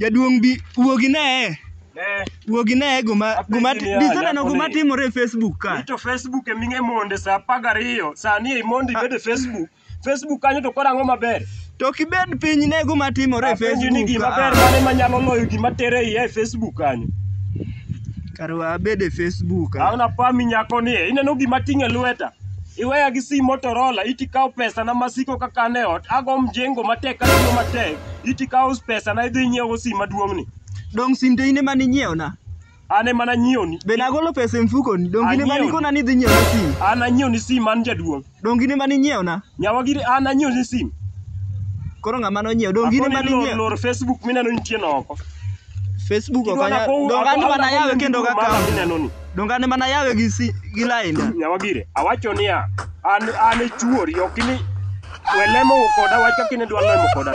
Jaduong' bi wuog ineye. Eh. Wuog ineye guma guma biseneno guma timore e Facebook ka. Ito Facebook e ming'e monde sa apar gariyo sani e mondi ah. bed e Facebook. Facebook kanyo to kora ang'o maber? To kibed piny ne guma timore e Facebook. Ni gima ber mane manyalo loyo gima tere iye e Facebook kanyo. Kar wabed e Facebook. Ah. Aona pami nyako ni e. ineno gima ting' e lweta. Iweya gi sim Motorola iti kawo pesa na masiko kaka ne ot ago mjengo matek kata matek. Iti kawo pesa na idhi nyiewo sim maduong' ni. Dong' sim to in ema ninyiewo na. An ema nanyiewo ni. Be nagolo pesa e mfuko ni. Dong' in ema nikona ni idhi nyiewo na sim. An nanyiewo ni sim an jaduong'. Dong' in ema ninyiewo na. Nyawa giri an nanyiewo ni sim. Koro ng'ama nonyiewo. Dong' in ema ninyiewo. Lor Facebook mineno nitie no oko. Facebook Kidwa okanya na kow- donga ni akow- mana akow- yawe kendo ka Mama kawo. mineno ni. Donga ni mana yawe gi si gi lainda. Nyawagire, awacho niya, an an e chuori, ok ni welemo koda wach kaka inidwa lemo koda.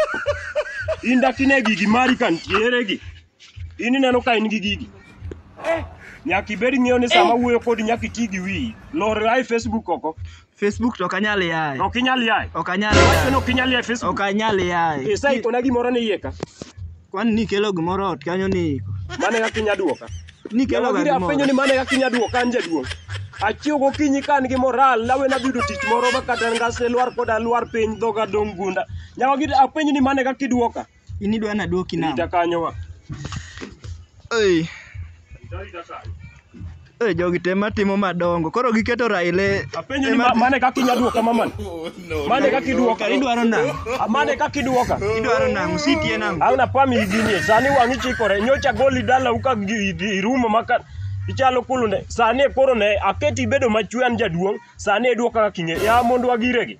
In dak ine gigi mari ka ntiere gi. In ineno ka in gi gigi. Nyaka ibed ng'eyo ni sama wuoyo kodi nyaka iti gi wiyi. Lor ae Facebook oko. Facebook to ok anyal yaye. Ok inyal yaye. Ok anyal Wacho ni yaye. ok inyal yaye Facebook. Ok anyal yaye. Pesa iko na gimoro ni iye ka. Kwani nikelo gimoro ot kanyo ni iko. Mane kaka inya duoka. Nikelo Yawa giri ga afwenyo ni gimoro. mane kaka inya duoka an jaduong'. Achiew gokinyi ka an gi moral nawe nadhi yudo tich moro ma kata ngas ne lwar koda lwar piny dhoga dong' gunda. Yawa giri afwenyo ni mane kaka iduoka. In idwa ni aduoki nang'o? Rita kanyo wa. Ei, Rita kanyo. ei, jogi te matimo madongo. Koro giketo Raila e- Apenjo ni ma- mane kaka inya duoka mamani? Mane kaka iduoka? idwaro nang'o? Ah, Mane kaka iduoka? Idwaro nang'o? Sitie nang'o? Auna pami iginie. Sani wang'i chikore. Nyocha goli dala uka gi- gi- irumo maka ichalo kulunde. Sani koro ne aketi ibedo machwe an jaduong'. Sani iduoka kaka kinge. Ya mondo agiregi.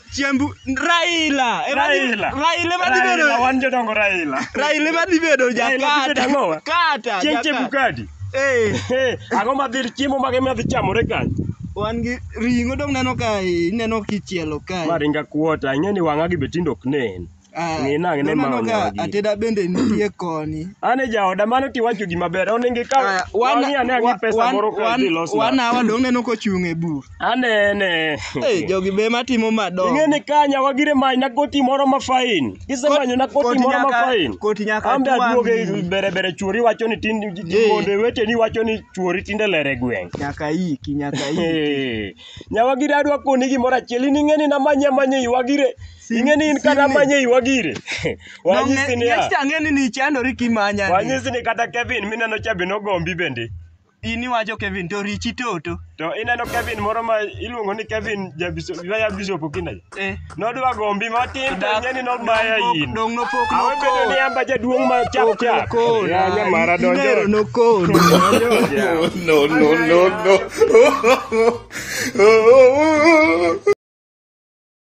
Chiembu Raila. e ma dhi- Raila. Raila ma dhi Raila, bedo. wan jodongo Raila. Raila ma dhi bedo Raila dhi bedo jakata. ang'owa? Kata. Chieng' jakata. Chebukati. Eh, Hey, ang'o ma dhi chiemo mage ma dhi chamore kanyo? wan gi ring'o dong neno ka ineno kichielo kae. Ma ringa kuota, ing'e ni wang'a gi be tinde ok nen. Ah, Ng'i nang'e ne ma noneno ka onyago ji. ateda bende nitie koni An e jaoda mano tiwacho gima ber. Onenge ka Aya, wana- wang'i ane ang'i wa- pesa wan- moro ka wan- idhi los na. wana wa dong' neno kochung' e bur Anene. Eh, jogi be matimo madongo Ing'e ni kanya wagire many na koti moro ma fain. Kisemanyo na koti koti moro ma nyaka- fain. koti nyaka Ambe twang'i. aduoge bere bere chuori wacho ni tin Eh. monde weteni wacho ni chuori tinde lere gweng'. nyaka iki nyaka iki Eh, Nyawagire adwa koni gimoro achiel in ing'e ni namanye amanye iwagire Ing'e ni in kata manye iwa gire. Wanyisi ni ya. Ang'e ni nichandori kimanya. Wanyisi ni kata Kevin mineno cha be nogombi bende. In iwacho Kevin to richi toto. To ineno Kevin moro ma iluongo ni Kevin Jabishop, ya Bishop Okinda. Eh. Nodwa gombi matin to ing'e ni nomaya in. Dong nopok Awe bedo ni nokol. amba jaduong' ma chap chap. Nokol. Ya nyamara donjo. Inero nokol. No, no, no, no.